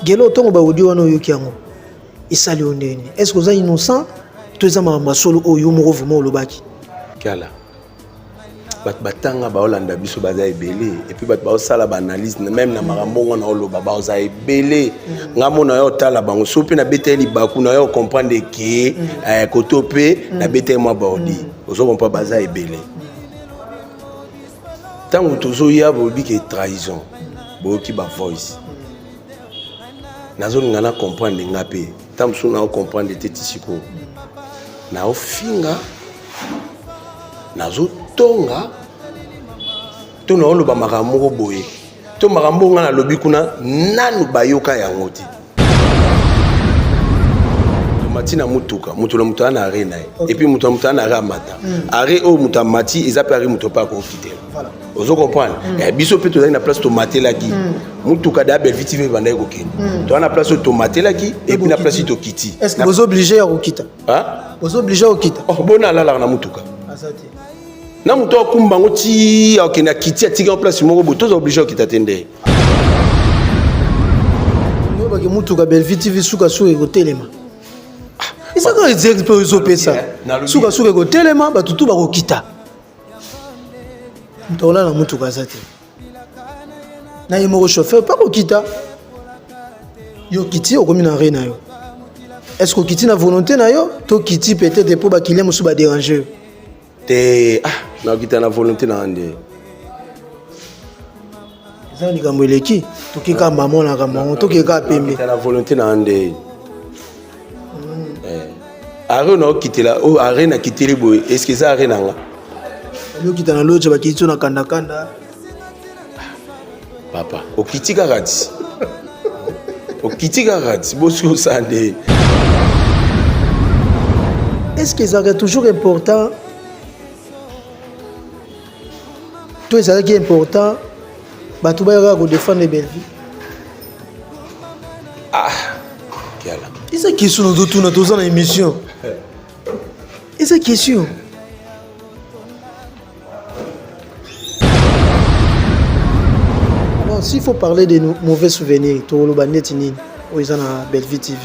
Gelo tongo ba audio wana oyoki yango esali yo ndenge nini? Est-ce que oza innocent to eza makambo ya solo oyo yo moko vraiment olobaki? Kiala bato batanga baolanda biso baza ebele epuis bato baosala baanalyse meme na makambo ngo na oloba baoza ebele mm. nga mona yo otala bango so mpe nabeteli libaku na yo okomprendre ke mm. eh, koto mpe mm. nabeteli mwa baodi ozokompa baza ebele ntango tozoya bolobi ke trahison boyoki ba voice nazolinga na comprendre nga mpe ntango mosusu nao comprendre te ti sikoyo naofinga nazotonga to naoloba makambo moko boye to makambo nga nalobi kuna nanu bayoka yango te amati na motuka moto na moto aa na arre na ye epuis moto na moto aa na arre amata hmm. arre oyo moto amati eza mpe arre moto mpe akokitela ozo comprendre hmm. eh, biso mpe tozali na place tomatelaki hmm. motuka da belvi tv ebandaki kokende toza na place oyo tomatelaki epuis na place tokiti ozo oblige ya kokita ozo oblige ya kokita oh, bona alalaka na motuka na moto akumba yango ti akende akiti atiki yango place moko boye toza oblige okita te nde oyebaki motuka bellevue tv sukasuka ekotelema ezaka ah, exerce mpe ezopesa eh, sukasuka ekotelema bato tu bakokita moto akolala na motuka aza te na ye moko chauffeur mpe akokita yo okiti okomi na re na yo est ce que okiti na volonté na yo to okiti peut-être mpo bakilien mosusu baderange yo te ah nakita na volonté na nde eza likambo eleki tokeka mama na likambo yango tokeka pembe na volonté na nde hmm. eh. are naokitela oyo oh, are nakiteli boye eske eza are na nga okita na loje bakiti so na kandakanda papa okiti kaka ti okiti kaka ti bosi osala nde est ce que ezalaka toujours important to ezalaki important bato bayaka kodefendre bellevue ah kiala eza question nazotuna toza na émission eza question Alors, s'il faut parler de nos mauvais souvenirs, toloba neti nini oyo eza na Bellevue TV.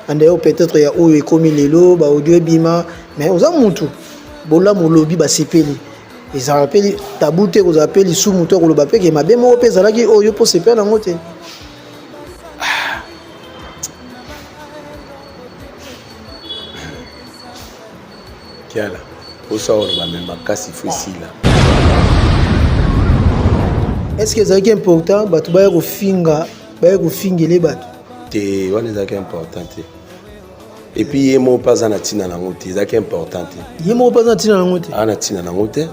Andayo peut-être ya oyo ekomi lelo ba audio ebima mais oza mutu bolamu olobi basepeli ezalaka mpe tabu te kozala mpe lisumu to koloba mpe ke mabe moko mpe ezalaki oyo mpo sepela nango te kiala osa oloba me makasi fo esila estce ezalaki important bato baya kofinga baya kofingele bato te wana ezalaki important te epuis ye moko mpe aza na ntina nango te ezalaki important te ye moko mpe aza na ntina nango te aa na ntina nango te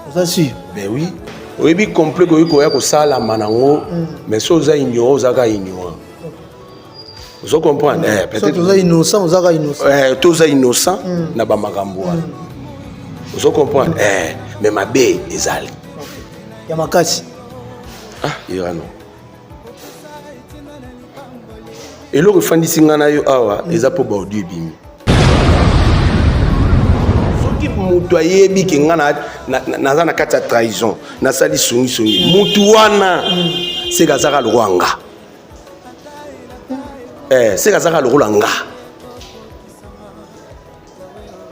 oza sur ben oui oyebi complet koki koya kosalama nango mais so oza ignorant ozaka ignorant ozo comprendre eh, peut-être toza innocent oza ka innocent eh toza innocent mm. na ba makambo wana mm. ozo comprendre mm. eh mais mabe ezali ya makasi ah irano eloko efandisi ngai na yo awa mm. eza mpo baaudio ebimi soki moto ayebi ke ngai naza na kati ya trahison nasali songisongi motu wana mm. seka azaka lokola nga eh, seka azaka lokola nga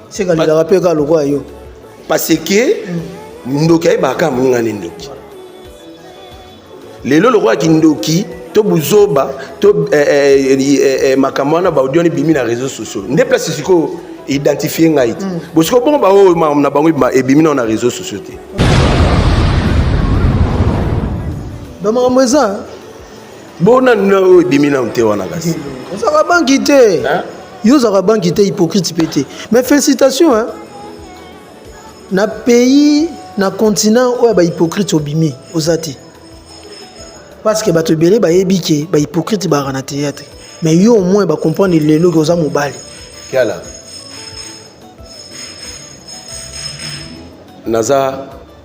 seka lingaka mpe kaka lokola yo parce que mm. ndoki ayebaka kaka moninga ne ndoki lelo lokola kindoki to buzoba to eh, eh, eh, eh, makambo wana baudio ebimi na réseau sociaux nde place sikoyo identifie ngai te mm. bosiko bongo baoyo na bango ebimi nao na réseau sociaux te bamakambo eza bona nina oyo ebimi nanu te wana kasi ozaka banki te yo ozaka banki te hypocrite mpe te mais félicitation hein? na pays na continent oyo ya bahypocrite obimi oza te parce que bato ebele bayebi ke bahypocrite baka na théâtre mais yo au moins bacomprendre lelo ke oza mobali kiala naza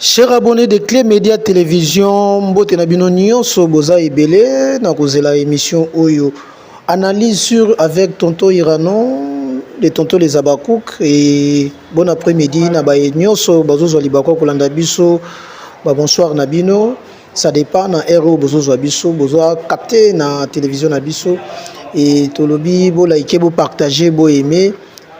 Cher abonné de Clé Média Télévision, mbote na bino nyonso boza ebele na kozela émission oyo. Analyse sur avec Tonto Irano, les Tonto les Abakouk et bon après-midi na baye nyonso bazozwa libako kolanda biso. Ba bonsoir na bino. Ça dépend na RO bozozwa biso, bozwa capté na télévision na biso et tolobi bo liker, bo partager, bo aimer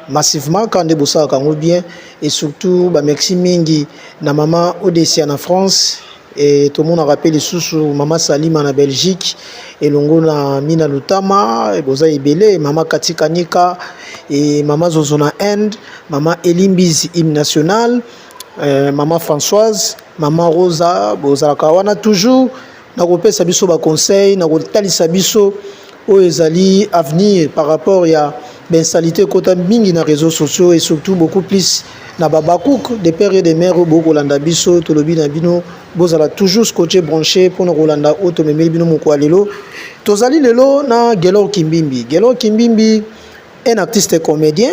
massivement quand nde bosalaka yango bien et surtout ba merci mingi na mama Odesia na France et tomonaka mpe lisusu mama Salima na Belgique elongo na Mina Lutama boza ebele mama Katikanika et mama Zozo na Inde mama Elimbizi hymne national euh, mama Françoise mama Rosa bozalaka wana toujours na kopesa biso ba conseil na kotalisa biso oyo ezali avenir par rapport ya bainsalite ekota mingi na réseaux sociaux et surtout beaucoup plus na babakouk de père et de mère oyo bokolanda biso tolobi na bino bozala toujours scotché branché mpona kolanda oyo tomemeli bino moko ya lelo tozali lelo na gelor kimbimbi gelor kimbimbi un artiste comédien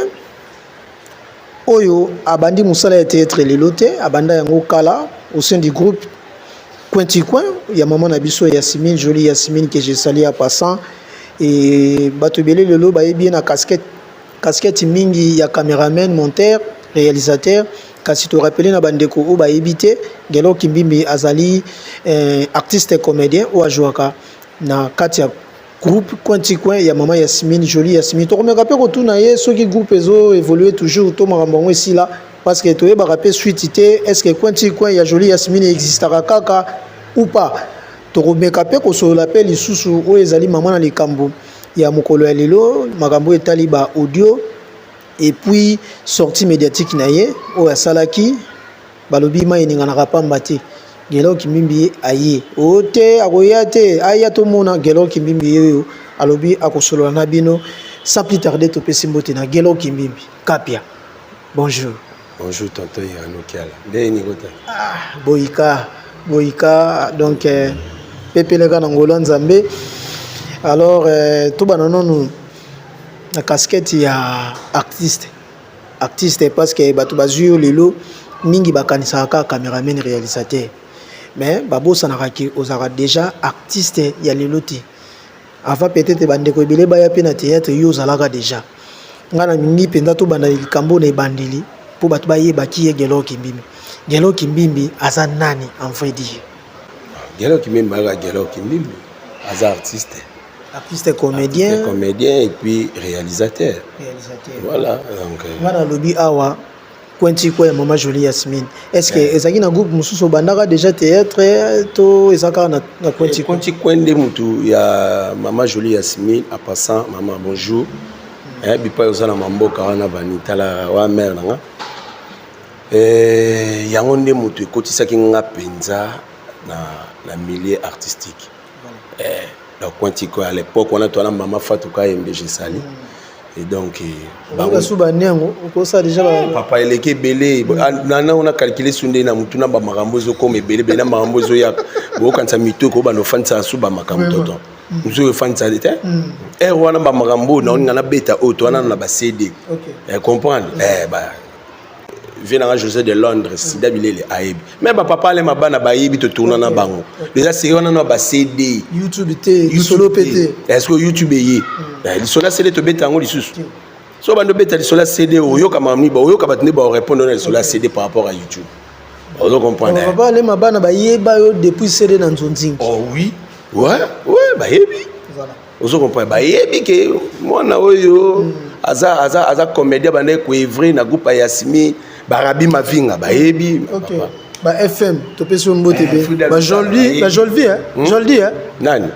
oyo abandi mosala ya theatre lelo te abanda yango kala au sein du groupe cointicoin ya mama na biso yasimine joli yasimine que je sali ya passant e bato ebele lelo bayebi ye na casquette casquette mingi ya cameraman monteur réalisateur kasi torapele na bandeko oyo bayebi te gelo kimbimbi azali eh, artiste comédien oyo ajwaka na kati ya groupe coin ti coin ya mama yasmine jolie yasmine tokomeka mpe kotuna ye soki groupe ezo évolue toujours to makambo yango esila parce que toyebaka mpe suite te est ce que coin ti coin ya jolie yasmine existaka kaka ou pas tokomeka mpe kosolola mpe lisusu oyo ezali mama na likambo ya mokolo ya lelo makambo oyo etali ba audio epuis sortie médiatique na ye oyo asalaki Balobi mai eninganaka pamba te. Gelor Kimbimbi aye o oh, te akoya te aya tomona Gelor Kimbimbi yeyo alobi akosolola na bino sans plus tarder topesi mbote na Gelor Kimbimbi Kapia bonjour bonjour tonton Irano Kiala ndenge nini kota ah boyika boyika donc euh, pepeleka na ngolo nzambe alors euh, tobana nanu na casquette ya artiste artiste parce que bato bazwi yo lelo mingi bakanisaka kaka cameraman réalisateur mais babosanaka ke ozalaka déjà artiste ya lelo te avant peut-être bandeko ebele baya mpe na théâtre yo ozalaka déjà ngai nalingi mpenza tobanda likambo na ebandeli mpo bato bayeba ki ye gelo kimbimbi gelo kimbimbi aza nani en vrai dire gelo kimbimbi aza gelo kimbimbi aza artiste artiste comedien artiste comedien et puis réalisateur réalisateur voilà donc euh, nga na lobi awa kwenti kwa ya mama jolie yasmine est ce que yeah. ezalaki na groupe mosusu obandaka déjà théâtre to eza kaka na, na kwenti kwenti kwa nde motu ya mama jolie yasmine a passant mama bonjour mm. eh, bipai oza na mamboka wana bani tala wa mare na nga eh, yango nde motu ekotisaki nga mpenza na, na milieu artistique eh, na coin tiko à l'époque wana toana mama Fatou Kayembe je sali et donc eh, bango sous bani yango okosa déjà ba eh, papa eleki ebele mm. ah, na na on a calculé sunde na mutu na ba makambo zo comme ebele bele makambo zo ya bokanisa mitu ko bano fanisa sous ba makambo tonton mosusu mm. efandisali te ere mm. wana bamakambo oyo naoninga nabeta oyo towanana na bacd comprendre eh, vie nanga josé de londres sida bilele ayebi me bapapa alema bana bayebi totourna na bango eza seri wana na bacd youtube te lisolo mpe te est ce que youtube eye lisolo ya cd tobeta yango lisusu so bando obeta lisolo ya cd oyoka mamiba oyoka bato nde baorepondre na lisolo ya cd par rapport à youtube ozo comprendre papa alema bana bayeba yo depuis cd na nzonzingi oh oui ouais ouais bayebi voilà ozo comprendre bayebi ke mwana oyo mm. aza aza aza comédien bande ko evre na groupe ya Yasimi barabi mavinga bayebi okay. papa ba FM topesi yo mbote eh, be ba Jolvi ba Jolvi hein hmm? Jolvi hein nani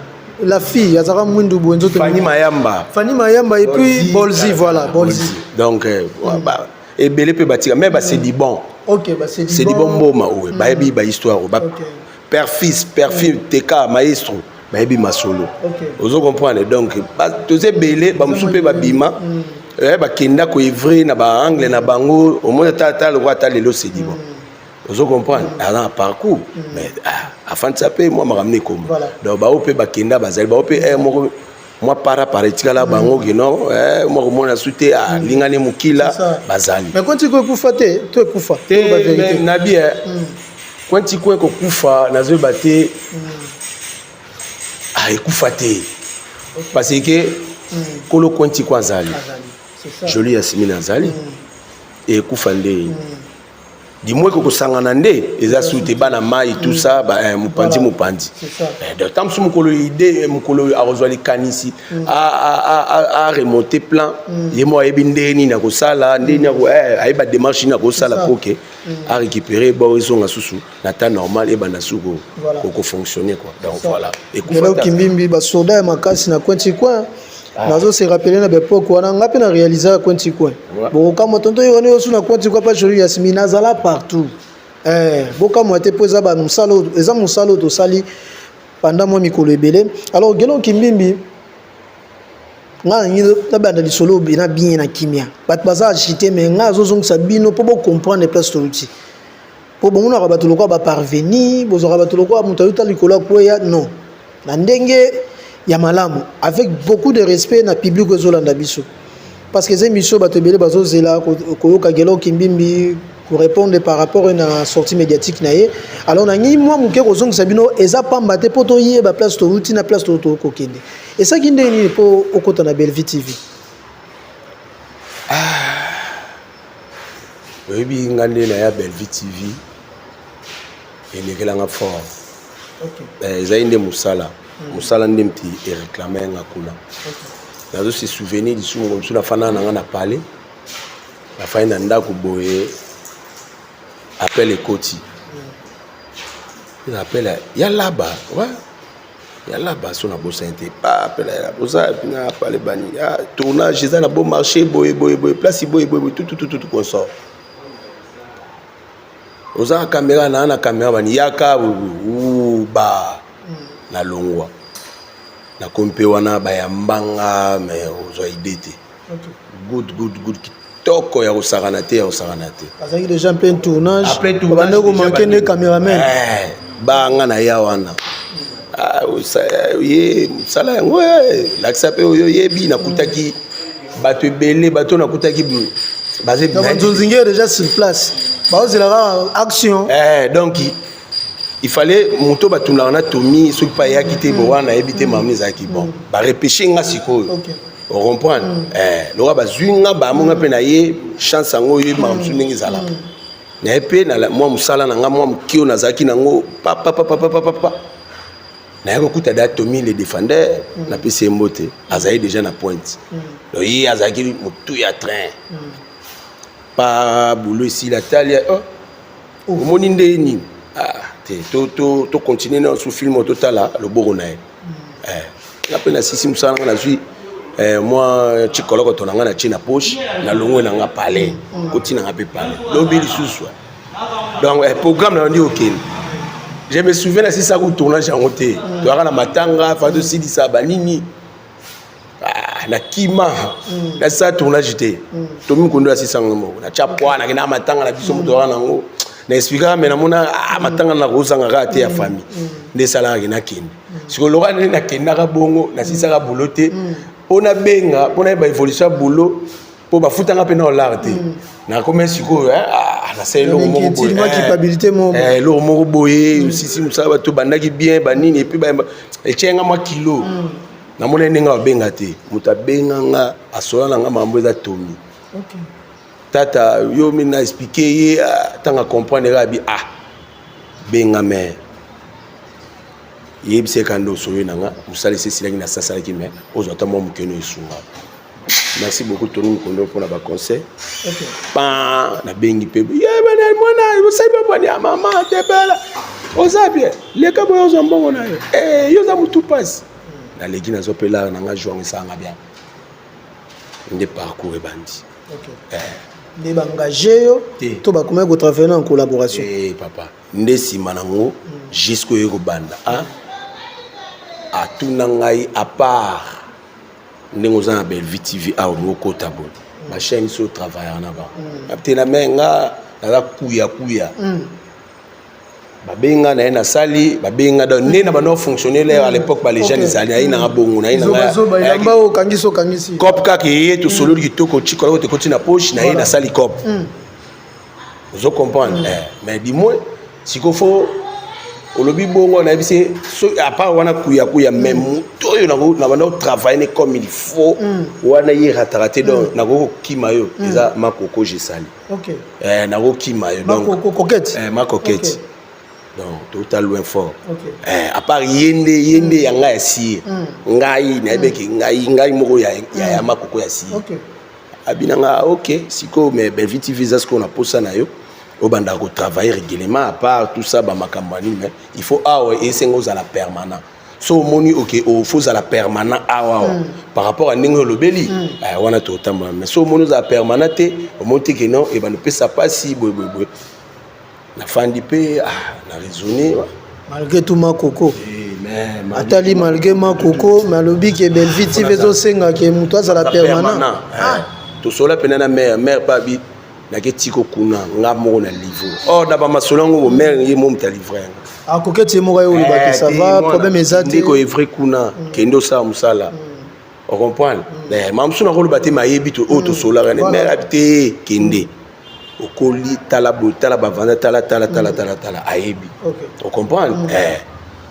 la fille azaka mwindu boye nzoto Fanny Mayamba Fanny Mayamba et puis Bolzi voilà Bolzi donc euh, hmm. bah, ebele mpe batika mais basedi hmm. bon ok basedi bon mboma oyo bayebi ba histoire oyo perfis perfil mm. teka maestro bayebi masolo okay. ozo comprendre donc toza ebele bamosusu mpe babima mm. eh, bakenda koevre na baangle na bango omoni ata ata lokola ata lelo sedibo mm. ozo comprendre mm. aza na parcours mm. mais ah, afandisa mpe mwa makambo na ekoma voilà. donc bao mpe bakenda bazali bao mpe eh, moko mwa para para etikala bango kino eh, mwa komona su te alingani ah, mm. mokila bazali mais kwanti ko ekufa te to ekufa te nabi eh, mm. kwanti ko ekokufa nazoyeba te mm. ah, ekufa te parce que kolo kwanti ko azali joli ya simina azali ekufa nde dimwe ko kosangana nde eza su te bana mai tout ça ba eh, mopanzi mopanzi eh, donc ntango mosusu mokolo ide eh, mokolo oyo akozwa likanisi mm. a remonte plan mm. ye moko ayebi ndenge nini akosala ndenge nini ayeba démarche nini akosala mpo ke mm. a récupérer bo ezonga susu na temps normal ebanda suku voilà. oko fonctionner quoi donc ça. voilà ekufela kimbimbi ba soda ya makasi na coin coin ah. nazo se rappeler na bepoke wana nga mpe na réalisa ya coin coin ouais. bokokamwa tonto yo wana osu na coin coin mpa joli yasimi nazala partout eh, bokamwa te mpo eza bamosala eza mosala oyo tosali pendant mwa mikolo ebele alors gelon kimbimbi nga nangi nabanda lisolo na bien na kimia bato baza agite mais nga azozongisa bino mpo bocomprendre place toluti mpo bomonaka bato lokola baparveni bozwaka bato lokola moto ayuta likolo ya kweya non na ndenge ya malamu avec beaucoup de respect na public oyo ezolanda biso parce que eza émission bato ebele bazozela koyoka gelo kimbimbi korépondre par rapport na sortie médiatique na ye alors nangi mwa moke kozongisa bino eza pamba te mpo toyeba place touti na place tokokende esaki ndenge nini mpo okota na bellevue tv ah. oyebi nga nde na ya bellevue tv elekelanga fort eh, ezali nde mosala hmm. mosala nde mti ereklame yanga kuna nazo se souvenir lisusu moko mosusu nafandaka na nga na palais nafandi na ndako boye appel ekoti hmm. appel ya laba ya laba so nabosani te papela ya laba oza yapi na pale bani ya tournage eza na bon marché boye boye boye place boye boye boye tututututu consort oza na kamera naa na kamera bani yaka ba na longwa nakomi mpe wana bayambanga me ozwa ide te good good good kitoko ya kosakana te ya kosakana te azalaki déjà mpe tournage obande komanke nde cameraman eh, banga na ya wana ah, ye mosala yango eh, lakisa mpe oyo oyebi nakutaki bato ebele bato nakutaki bazonzingi déjà sur place baozela kaka action eh, donc il fallait moto batunaka na tomi soki mpe ayaki te bo wana nayebi te mama ezalaki bon barepeshe nga sikoyo ocomprendre mm. eh, loka bazwi nga bamo nga mpe na ye chance yango oyebi makambo mosusu ndenge ezalaka mm. na ye mpe na mwa mosala na nga mwa moke oyo nazalaki nango papapapapapapa naye kokuta da tomi le défendeur mm. napesi ye mbote azali déjà na pointe donc ye azalaki motu ya train pa bulu esila tali oh, omoni nde ye nini ah, te tocontinue na su film totala loboko na ye hmm. eh, nga mpe nasisi mosala nga nazwi eh, mwa cikolokoto na nga na tie na poche na longwe na nga palais hmm. kotina nga mpe palais lobi lisusu donc eh, programme na yo nde okende je me souviens nasisaka tournage yango te toyaka na matanga fa tosilisa banini Ah, na kima mm. na sa tournage te mm. tomi kondo ya sisango moko na tya pwa na kenda matanga na biso moto wana nango na explika me namona ah, matanga na kozanga kaka te ya mm. famille mm. nde esalaka ke nakende mm. sikoyo loka nde nakendaka bongo nasisaka mm. boulot te mm. mpo nabenga mpo nayeba evolution ya boulot mpo bafutanga mpe na olar te mm. nakomi sikoyo eh, ah, nasala eloko moko boye eh, eloko moko boye osisi mosala bato bandaki bien banini epuis etyenga mwa kilo mm. namonai ndenge babenga te moto abenga nga asola na nga mambo eza tomi okay. tata yo mi na explike ye ntango ah, acomprendre kaka bi ah benga me yebisa ye kanda osoli na nga mosalisi esilaki nasasalaki me ozwa ata mwa mokeno esunga merci beaucoup tony mokondo mpo na baconseil pa nabengi mpe mwana osali babwani ya mama tebela oza bien leka boye ozwa mbongo na yo eh, yo oza motu mpasi naleki nazwa mpe lare na ngai juang esanga bien nde parcours ebandi eh. nde baengage yo to bakomaki kotravaille na en collaboration eh, papa nde nsima nango mm. jusqu'oyo ekobanda ah, atuna ngai apart ndenge oza na bellevue tv awa olingi okota boye bachaine so travailleur na bango mm. abtela me nga naza kuya kuya mm. babenga na ye nasali babenga da nde na bando afonctionne lere à l'époque balejane ezali ayi nanga bongo naye nangacop kaka eye tosololi kitoko ciko aloko tekoti na poche na ye nasali cop mm. ozo comprendre mm. eh, mais du moins sikoyo fo olobi bongo nayebi se so apart wana kuyakuya mais mm. moto oyo nabanda kotravaille ne comme il faut mm. wana ye rataka te donc mm. nakoki kokima yo eza makoko jesali eh, nakokima yo eh, makoketi donc touta loin fort eh, apart ye nde ye nde ya ngai ya siye ngai nayebeki ngai ngai moko ya makoko ya siye abina nga ah, ok sikoyo mais bellevue tv eza sikoyo na posa na yo obandaka kotravaille régulièrement à part tout ça bamakambo ya nini mais il faut awa ah esenga ozala permanent so omoni oke ofo ozala permanent awa awa mm. par rapport ya ndenge olobeli mm. eh, wana totambola mais so omoni ozala permanent te omoni te ke non ebanda eh, opesa mpasi boyeboyeboye nafandi mpe ah, na raisonne malgré tout makoko atali malgré makoko me alobi ke bellevie tv ezosenga ke moto azala permanent eh, ah. tosola mpena na mare mare mpe abi nake tiko kuna nga moko na livre or na bamasolo yango bomare ye mo moto alivre yango akoki ete moko ye olobaki eh, sava problème eza te ndeko evre kuna mm. kende osala mosala mm. ocomprendre mm. eh, mamosu nakoloba te mayebi oyo tosolaka ne mare abi te kende okoli tala boye tala bavanda tala tala tala tala tala ayebi ocomprendre mm. eh.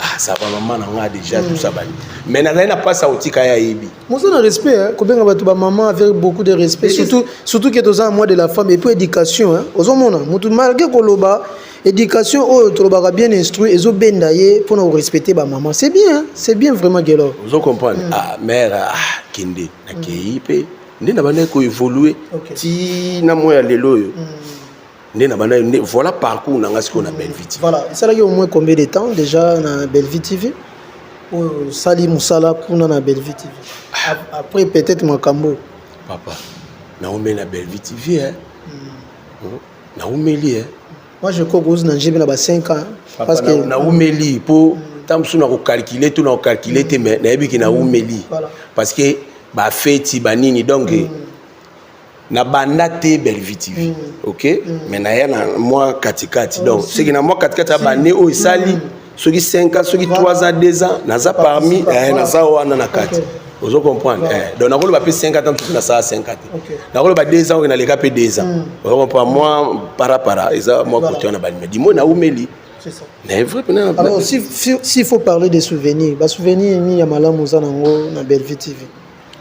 ah, ça va mama na nga déjà mm. tout ça bani mais nazali na mpasi akotika ye ayebi moza na respect hein? kobenga bato bamama avec beaucoup de respect surtout, surtout ke toza na mois de la femme et puis éducation hein? ozomona motu malgré koloba éducation oyo tolobaka bien instruit ezobenda ye mpona korespecte bamama c'est bien hein? c'est bien vraiment gelor ozo comprendre mm. ah mère ah, kende nakei mpe mm. nde na bandaki koevolue okay. ti na mwa ya lelo oyo mm. nde na bandaki nde voilà parcours na ngai sikoyo na bellevie tv voilà esalaki au moins combien de temps déjà na bellevie tv oyo osali mosala kuna na bellevie tv ah. après peut-être makambo papa naomeli na bellevie tv eh. mm. naomeli eh. Moi je crois que na njibi na ba 5 ans parce que na umeli po tant mosusu na ko calculer tout na ko calculer te mais nayebi ke na umeli parce que ba feti ba nini donc mm. na banda te Bellevue TV mm. OK mm. mais na ya na moi katikati donc c'est que na moi katikati abane oyo esali soki 5 ans soki 3 ans 2 ans naza parmi eh, naza wana na kati ozo comprendre eh, donc nakoloba mpe 5 ans mpe nasala 5 ans te nakoloba 2 ans oyo naleka mpe 2 ans hmm. ozo comprendre mwa parapara eza mwa kote wana balima dimo naumeli mais vrai pena alors s'il si, si faut parler des souvenirs basouvenir nini ya malamu oza nango na bellevue tv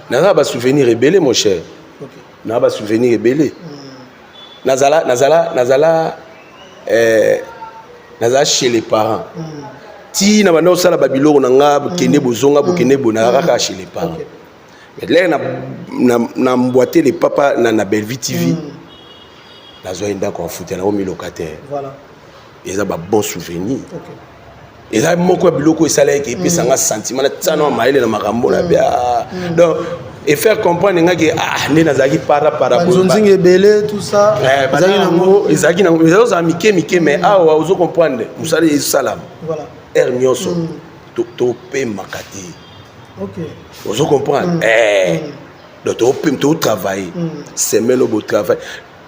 naza na basouvenir ebele mon cher okay. na ba souvenir ebele nazala nazala nazala eh, nazala chez les parents ti na banda osala babiloko na nga bokende bozonga bokende bo nazala kaka chez les parents mais lere na, na, na mboite le papa na, na bellevue tv mm. nazwaki ndako ya futa na omi locataire voilà. eza ba bon souvenir okay. eza moko ya biloko esalaki ke epesa nga sentiment na tia na mayele na makambo na bia mm. donc et faire comprendre nga ke ah nde nazalaki para para banzonzinga ebele tout ça eh, ezalaki nango ezalaki nango ezali ozala mike mike mais mm. awa ozo comprendre mosala ezosalama heure nyonso mm. topemaka te ozo comprendre eh, donc topem totravaille semele obotravaille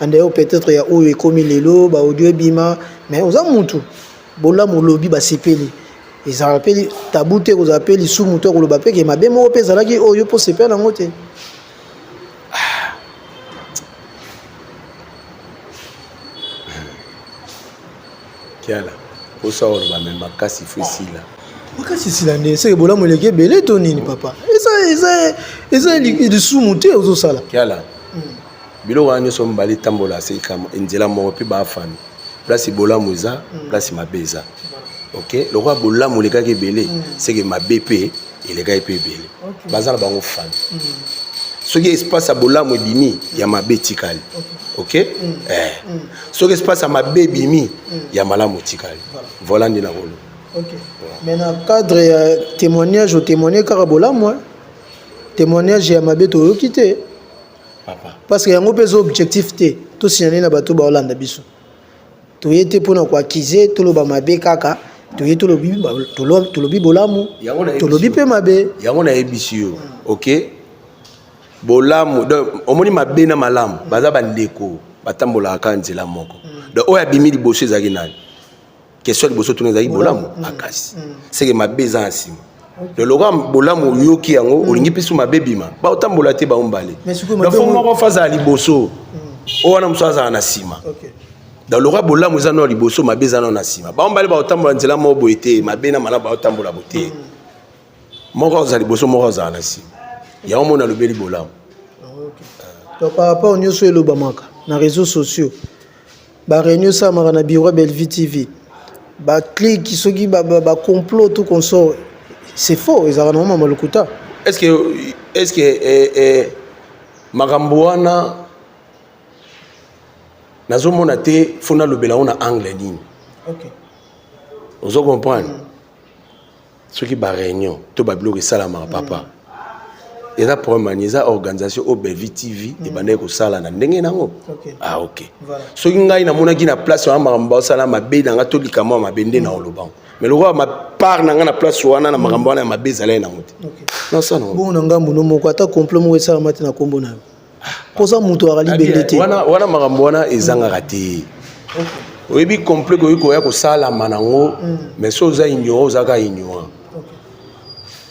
en dehors peut-être ya oyo ekomi lelo ba audio ebima mais oza mutu bolamu olobi basepeli ezalaka mpe tabu te kozala mpe lisumu to koloba mpe ke mabe moko mpe ezalaki oyo mpo sepela yango te kiala osa oloba me makasi fo esila makasi esila nde seke bolamu eleki ebele to nini papa eza lisumu te ozosala kiala hmm. biloko wana nyonso mibale etambola se likambo nzela moko mpe baafami place bolamu eza mm. place mabe eza ok lokola bolamu elekaki ebele mm. seke mabe mpe elekaki mpe ebele baza na bango fami mm. soki espace ya bolamu ebimi ya mabe etikali ok eh. soki espace ya mabe ebimi ya malamu etikali voila nde nakoloba mais na cadre ya témoignage otémoigne kaka bolamu témoignage ya mabe toyoki te parce que yango mpe eza objectif te tosinyane na bato baolanda biso toye te mpona koakize toloba mabe kaka toye tolobi tolobi bolamu tolobi mpe mabe yango nayebisi yo ok bolamu donc omoni mabe na malamu baza bandeko batambolaka kaka nzela moko donc oyo abimi liboso ezalaki nani question liboso tuna ezalaki bolamu mm. makasi mm. seke mabe eza na nsima loloka bolamu oyoki yango mm. olingi mpisu mabe bima baotambola te bango mbale lafo moko fa azala liboso oyo wana mosusu azala na nsima donc lokola bolamu eza nao liboso mabe eza nao na nsima bango mbale baotambola nzela moko boye te mabe na malamu baotambola bo te moko azala liboso moko azala na nsima yango mona alobeli bolamu ah, donc par rapport nyonso elobamaka na réseaux sociaux Ba reunion esalamaka na bureau ya Bellevue TV. Ba clique soki ba, ba, ba complot tout consort. C'est faux, ezalaka na mama lokuta. Est-ce que est-ce que eh, eh, makambo wana nazomona te fo nalobela yango na angle nini? Okay. Ozo comprendre? Mm. soki ba réunion to ba biloko esalamaka papa mm. eza problème ani eza organisation oyo bevi tv mm. ebandaki kosala na ndenge nango okay. ah ok voilà. soki ngai namonaki na place wana makambo baosala mabe na ngai to likambo ya mabe nde na olobango mais lokola mapart na ngai na place wana na makambo wana ya mabe ezalaki nango te nasala nango bongo na ngambo no moko ata complot moko esalama te na nkombo na yo koza moto aka libende te wana, wana makambo wana ezangaka te oyebi complet koki koya kosalama nango mm. mais so oza ignorant ozaka ignorant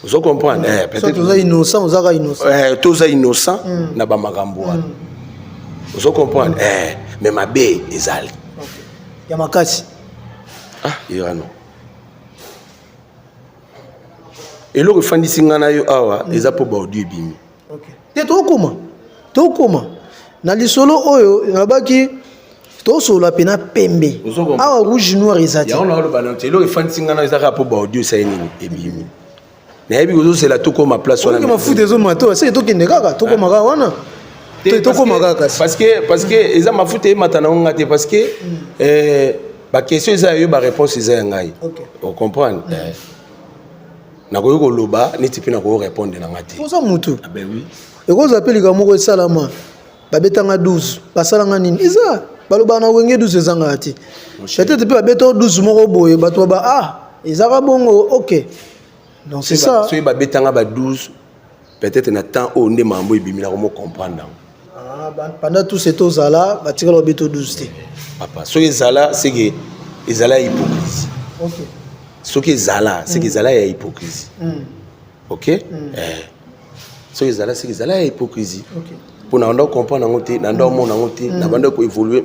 ozo comprendre eh, peut-être toza innocent ozaka innocent eh, toza innocent mm. na ba makambo wana mm. ozo comprendre eh, mais mabe ezali ya makasi ah irano eloko efandisi ngai na yo awa eza mpo baaudio ebimi okay. te tokoma tokoma na lisolo oyo nalobaki tosolola mpe na pembe awa rouge noir eza te eloko efandisi ngai na eza kaka mpo baaudio esali nini ebimi nayebi kozozela tokoma place wana mafuta ezoma to aseke tokende kaka tokoma kaka wana tokoma kaka parce que parce que eza mafuta eyemata nango ngai te parce que mm. eh, baquestion eza ya yo baréponse eza ya ngai ocomprendre mm. eh. nakoki koloba neti mpe nakoki korepondre na nga te oza motu ah ekozwa mpe likambo moko esalama babetanga 12 basalanga nini eza balobaka na wenge 12 ezangaka te peut-être mpe babeta 12 moko boye bato baba ah ezaka bongo ok donc c'est ça soki babetanga ba 12 peut-être na temps oyo nde mambo ebimi na komo comprendre yango ah, pendant tout ce temps zala batikala obi to 12 te papa soki ezala seke ezala ya hypocrisie okay. soki ezala seke mm. ezala ya hypocrisie mm. ok mm. eh. soki ezala seke ezala ya hypocrisie okay. mpo na banda comprendre yango te na nda omona yango te na banda koévolue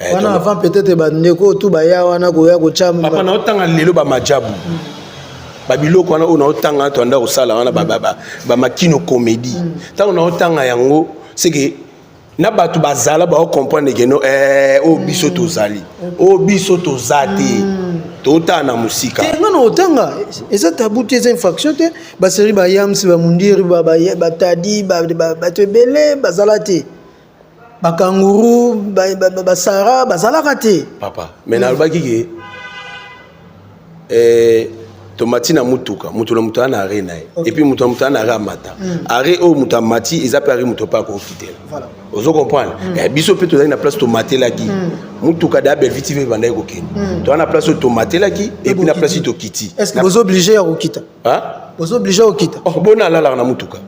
eh, wana avant peut-être bandeko tu baya wana koya kotya papa naotanga lelo bamajabu mm. babiloko wana oyo naotanga to anda kosala wana bamakino comédie mm. ntango naotanga yango seke na bato bazala baocomprendre ke no eh, oyo biso mm. tozali oyo biso toza te totala na mosika eh, nga na otanga eza tabu te eza infraction te baseri bayams bamundiri batadi bato ebele bazala te bakanguru basara bazalaka te papa me nalobaki ke eh, tomati na motuka moto na moto aa na are na ye epuis moto na moto aa na are amata hmm. are oyo moto amati eza mpe are moto mpe akokitela ozo comprendre hmm. eh, biso mpe tozali na place tomatelaki hmm. motuka da belvi tv ebandaki kokende toza na place oyo tomatelaki epuis na place tokiti bozo oblige ya kokita bozo oblige ya kokita oh, bona alalaka na motuka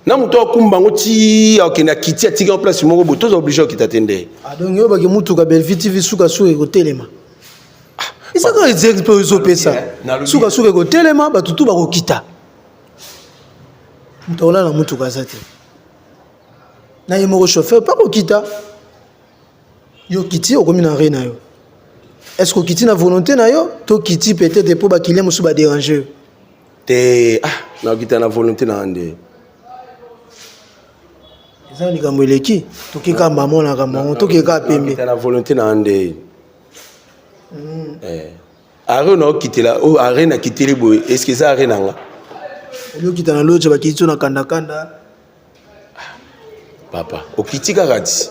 na moto akumba yango ti akende akiti atiki yango place moko boye toza oblige okita te nde ah, donc oyebaki motuka belvi tv sukasuka ekotelema ah, ezaka exexe mpe ezopesa sukasuka ekotelema bato tu bakokita moto akolala na motuka aza te na ye moko chauffeur mpe akokita yo okiti okomi na re na yo est ce que okiti na volonté na yo to okiti peut-être mpo bakilien mosusu baderange yo te ah nakita na volonté na ande eza likambo eleki toke kaka mama olaka mango toke kaka pembe na volonté na ande hmm. eh. are naokitela oyo oh, are nakiteli boye eske eza are na nga oyo okita na loje bakiti so na kandakanda papa okiti kaka ti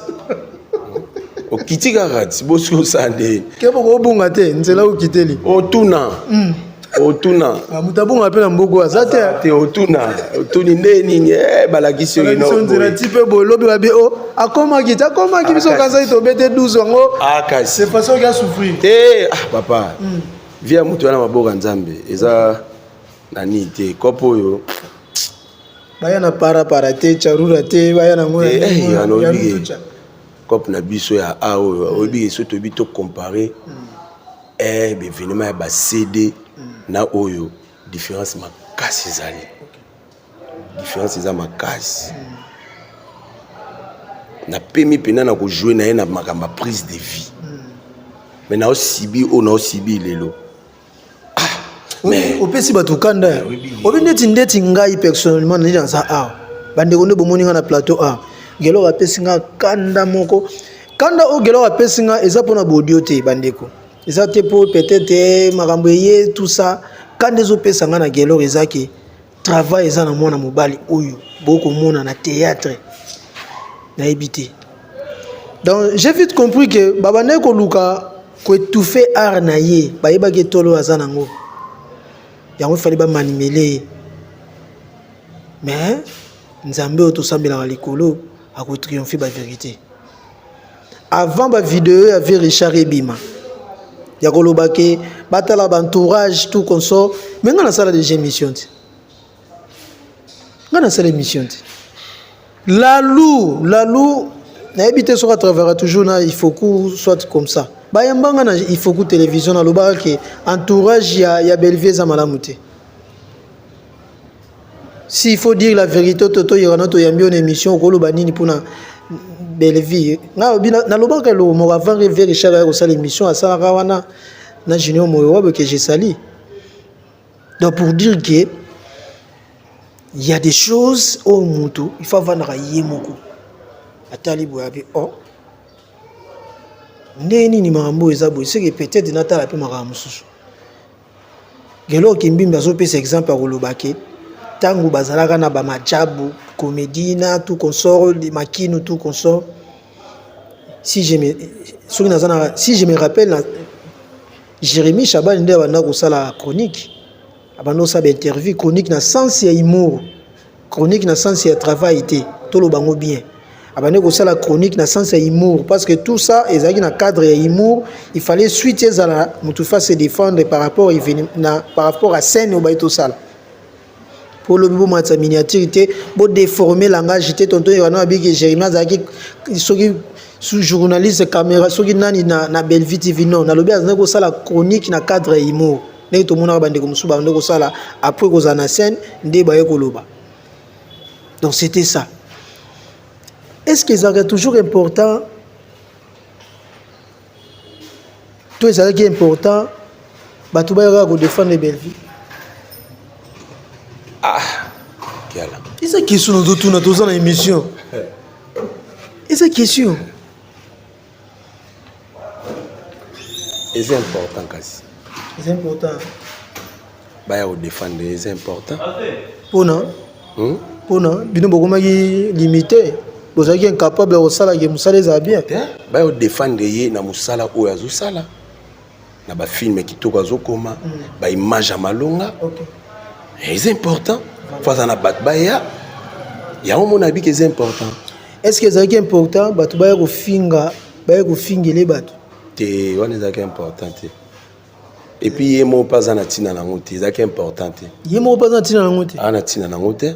okiti kaka ti bosi osala nde keba okobunga te nzela okiteli otuna mm. otuna ah, moto abunga mpe na mbogo aza te te otuna otuni nde nini eh, balakisi yoinonzela ti mpe bolobi babi o oh, akomaki ti akomaki biso ah, kanzaki tobete 12 yango ah, kasi façon oki asouffrir te ah papa mm. vie ya moto wana maboka nzambe eza na nini te kope oyo baya na para para te charura te baya na ngona eh, eh, ya lobi cop na biso ya a oyo mm. oyebi esoki toyebi to compare mm. eh, bevenema ya bacd mm. na oyo différence makasi ezali différence eza makasi napemi mpenza na kojoue na ye na makambo ya prise de vie me naosibi oyo naosibi lelo mais opesi bato kanda ya obi ndeti ndeti ngai personnellement nani naza awa bandeko nde bomoni ngai na plateau awa gelor apesi ngai kanda moko kanda oyo gelor apesi ngai eza mpona baudio te bandeko eza te mpo peut-être eh, makambo eye tout ça kanda ezopesa ngai na gelor eza ke travail eza na mwana mobali oyo bokomona na théâtre nayebi te donc j'ai vite compris que babandaki koluka koetouffe art na ye bayebaki etolo aza nango yango efali bamanimele ye mais nzambe oyo tosambelaka likolo akotriomfe baverité avant ba video ya vie richard ebima ya koloba ke batala ba entourage tout consort me ngai nasala deja émission te ngai nasala émission te lalou lalou nayebi te soki atravera toujours na ifoku soit comme ça bayamba ngai na ifoku télévision nalobaka ke entourage ya, ya bellevie eza malamu te si il faut dire la vérité toto yerana toyambi ona émission okoloba nini mpona bellevie ngai obi nalobaka eloko moko avant reve richard aya kosala émission asalaka wana na junior moyo wabe ke jesali donc pour dire que il y a des choses oyo oh, mutu il faut avandaka ye moko atali boye abi o oh. ndenge nini makambo oyo eza boye seke peut-être natala mpe makambo mosusu Gelor Kimbimbi azopesa exemple ya koloba ke ntango bazalaka na bamajabu komedi na tout consort makinu tout consort si je me, soki naza na si je me rappelle na Jérémy Shabani nde abanda kosala chronique abanda kosala interview chronique na sens ya humour chronique na sens ya travail te toloba yango bien abandi kosala chronique na sens ya humour parce que tout ça ezalaki na cadre ya humour il fallait suite ezala motu fa se défendre par rapport na par rapport à scène oyo baye tosala mpo lobi bomatisa miniature te bodeforme langage te tonton ewana abiki jérémi azalaki soki journaliste caméra soki nani na, na bellevue tv non nalobi azalaki kosala chronique na cadre ya humour ndenge tomonaka bandeko mosusu bande kosala après kozala na scène nde baye koloba donc c'était ça est ce que ezalaka toujours important to ezalaki important bato bayaka kodefendre bellevie ah kiala eza question nazotuna toza na émission eza question eza important kasi eza important baya kodefendre eza important mpona hmm? mpona bino bokomaki limite bozalaki incapable ya kosalaki mosala ezala bien baya kodefendre ye na mosala oyo azosala na ba film kitoko azokoma mm. ba image ya malonga okay. eza important fo aza na bato baya yango mona abiki eza important est ce que ezalaki important bato baya kofinga baya kofingele bato te wana ezalaki important te epuis ye moko mpe aza na ntina nango te ezalaki important te ye moko mpe aza na ntina nango te aza na ntina nango te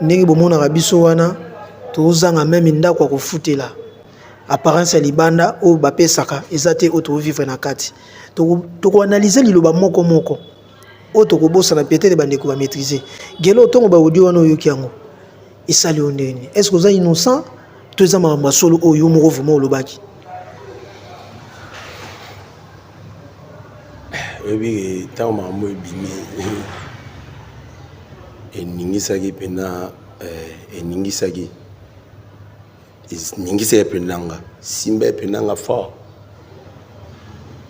ndenge bomonaka biso wana tozanga meme ndako ya kofutela apparence ya libanda oyo bapesaka eza te oyo tovivre na kati tokoanalyse liloba moko moko oyo tokobosana peut-être bandeko bamaîtrise gelo ntongo baaudio wana oyoki yango esali yo ndenge nini est ce que oza innocent to eza makambo ya solo oyo yo moko vraimen olobaki oyebi ntango makambo ebimi eningisaki mpena eh, eningisaki eningisaki mpena nga simba mpena nga fort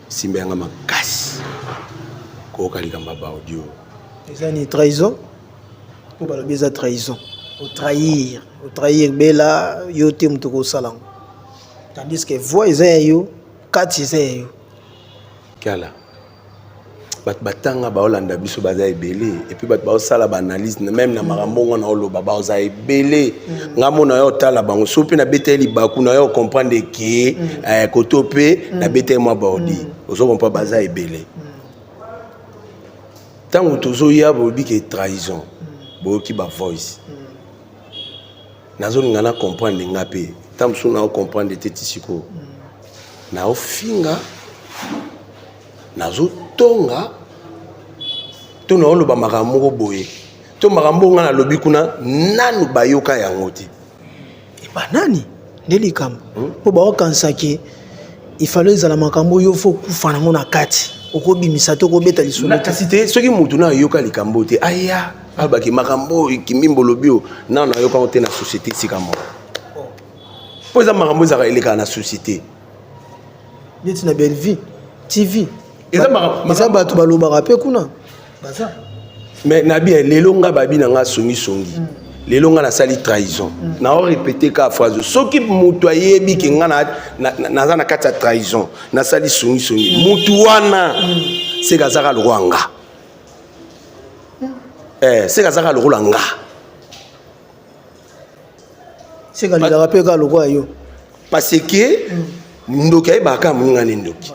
simba yanga makasi koyoka likambo ya baudio eza ni trahison mpo balobi eza trahison otrahir otrahir bela yo te moto kosala yango tandis que voix eza ya yo kati eza ya yo kiala bato batanga baolanda biso baza ebele epuis bato baosala baanalyse meme na makambo ngo na oloba baoza ebele mm. nga mona yo otala bango so mpe nabeteli libaku na yo okomprendre ke mm. eh, koto mpe mm. nabeteli mwa baodi ozokompa baza ebele ntango tozoya bolobi ke trahison boyoki bavoice nazolinga na comprendre nga mpe ntango mosusu nao comprendre te ti sikoyo naofinga nazotonga to naoloba makambo moko boye to makambo ngai nalobi kuna nanu bayoka yango te epa eh nani nde likambo hmm? mpo hmm? baokanisa ke ifalo ezala makambo oyo fo okufa nango na kati okobimisa to okobeta lisolo kasi te soki motu nayoka likambo te aya alobaki makambo oyo kimimbo olobi oyo nano nayoka yango te na société esika moko mpo eza makambo ezalaka elekaka na société neti na bellevie tv eza bato balobaka mpe kuna baza mais nabi eh, lelo nga babi na nga songisongi mm. lelo nga nasali trahison mm. nao répété ka phrase soki moto ayebi ke nga naza na kati ya trahison nasali songisongi mm. motu wana mm. seka azaka lokwa nga eh, seka azaka lokola nga seka lilaka mpe kaka lokola yo parce que mm. ndoki ayebaka moninga ne ndoki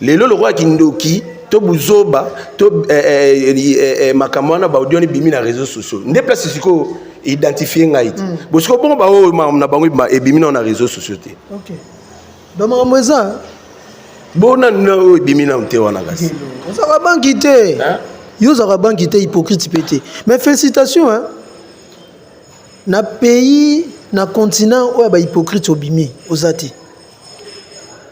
lelo lokola kindoki to buzoba to eh, eh, eh, eh, makambo wana baudio wana ebimi na réseau sociaux nde place sikoyo identifie ngai te mm. bosiko bongo baoyo na bango ebimi nao na réseau sociaux te okay. ba makambo eza bona na oyo ebimi na mte wana kasi ozaka banki te yo ozaka banki te hypocrite mpe te mais félicitation hein? na pays na continent oyo ya bahypocrite obimi oza te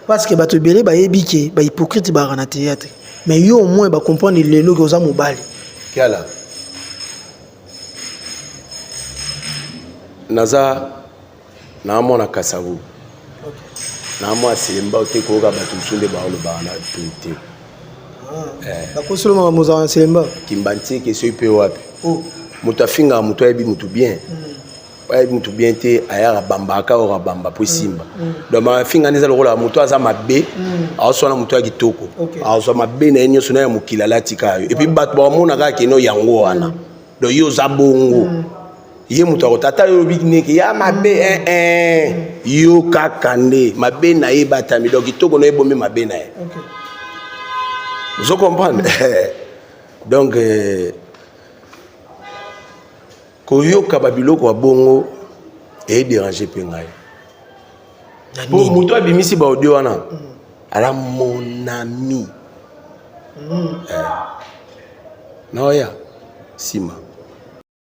parce que bato ebele bayebi ke bahypocrite baka na théâtre mais yo au moins bacomprendre lelo ke oza mobali kiala naza na mwa na kasavu na mwa aselemba te koyoka bato mosusu nde baolobaka na to te ah, eh. bakosolo makambo ozala na selemba kimbantieke soki mpe wapi oh. moto afingaka moto ayebi moto bien hmm. ayebi moto bien te ayaka bamba aka oka bamba mpo esimba hmm. hmm. donc mafinga nde eza lokola moto aza mabe aoswana moto ya kitoko azwa mabe na ye nyonso na ya mokili alatika yo epuis bato bamonaka keno yango wana donc yo oza bongo ye moto akota ata yo obi neke ya mabe ee eh, eh. yo kaka nde mabe na ye batami donc kitoko na ye bomi mabe na ye ozo comprendre donc euh, koyoka babiloko ya bongo ederange mpe ngai po moto abimisi baaudio wana mm. ala monami mm. eh. naoya nsima